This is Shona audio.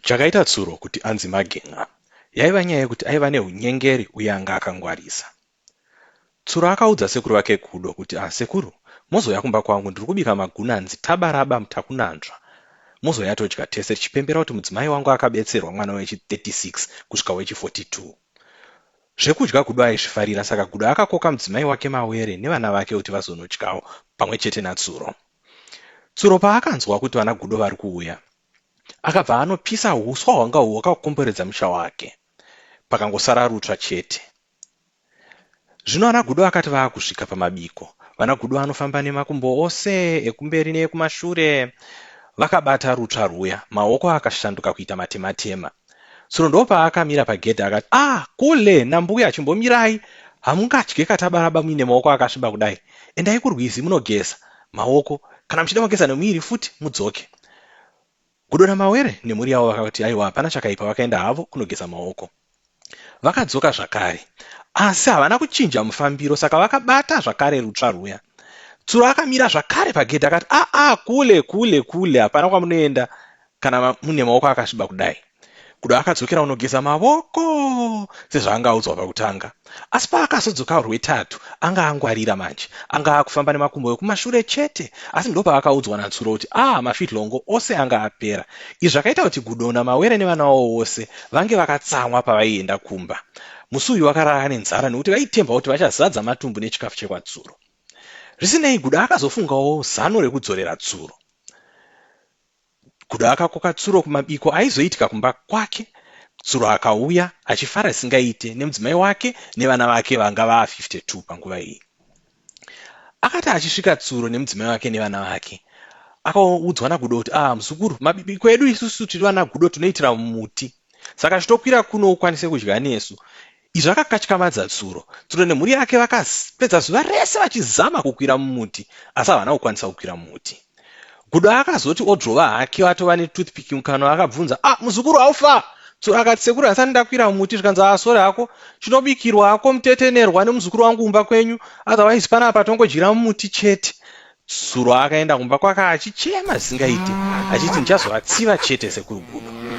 Chakaita Tsuro kuti anzi Magen'a yaiva nyaya yekuti aiva nehunyengeri uye anga akangwarisa. Tsuro akaudza sekuru vake Gudo kuti ah sekuru mozouya kumba kwangu ndiri kubika magunanzi tabaraba mutakunanzva mozouya todya tese tichipembera kuti mudzimai wangu akabetserwa mwana wechi 36 kusvika wechi 42. Zvekudya Gudo aizvifarira saka Gudo akakoka mudzimai wake Mawere nevana vake kuti vazonodyawo pamwe chete naTsuro. Tsuro paakanzwa kuti vana Gudo vari kuuya Akabva anopisa huswa hwanga hwakakomberedza musha wake pakangosara rutsva chete. Zvino ana Gudo akati vaakusvika pamabiko, vana Gudo vanofamba nemakumbo ose ekumberi neekumashure vakabata rutsva rwuya, maoko akashanduka kuita matematema. Tsono ndoopaakamira pagedhi akati, ah kule nambuya chimbomirai hamungadye katabaraba muine maoko akasviba kudai, endai kurwizi munogeza maoko kana muchida mogeza nemuviri futi mudzoke. Gudo naMawere nemhuri yavo vakati aiwa hapana chakaipa vakaenda havo kunogeza maoko. Vakadzoka zvakare asi havana kuchinja mufambiro saka vakabata zvakare rutsva rwuya. Tsuro akamira zvakare pagedhi akati, ah ah kule kule kule hapana kwamunoenda kana mune maoko akasviba kudai kudo akadzokera unogeza mavoko sezvaanga audzwa pakutanga asi paakazodzoka rwetatu anga angwarira manje anga akufamba nemakumbo ekumashure chete asi ndo paakaudzwa natsuro kuti a ah, mafitlongo ose anga apera izvi zvakaita kuti gudona mawere nevana wavo vose vange vakatsamwa pavaienda kumba musi uyu vakarara nenzara nekuti vaitemba kuti vachazadza matumbu nechikafu chekwatsuro zvisinei gudo akazofungawo zano rekudzorera tsuro Kuda akakoka Tsuro kumabiko aizoitika kumba kwake. Tsuro akauya achifara zvisingaite nemudzimai wake nevana vake vanga vava 52 panguva iyi. Akati achisvika Tsuro nemudzimai wake nevana vake akaudzwa naGudo kuti ah muzukuru mabiko edu isusu tiri vana Gudo tinoitira muti saka chitokwira kuno ukwanise kudya nesu Izvi akakatyamadza tsuro. Tsuro nemhuri yake vakapedza zuva rese vachizama kukwira mumuti asi havana kukwanisa kukwira mumuti. Gudo akazoti odrova hake atova netoothpick mukanwa akabvunza, ah muzukuru haufa? Tsuro akati sekuru hasani ndakwira mumuti zvikanzi ah sore hako chinobikirwa hako mutetenerwa nemuzukuru wangu kumba kwenyu otherwise panapa tongodyira mumuti chete. Tsuro akaenda kumba kwake achichema zvisingaite achiti ndichazovatsiva chete sekuru Gudo.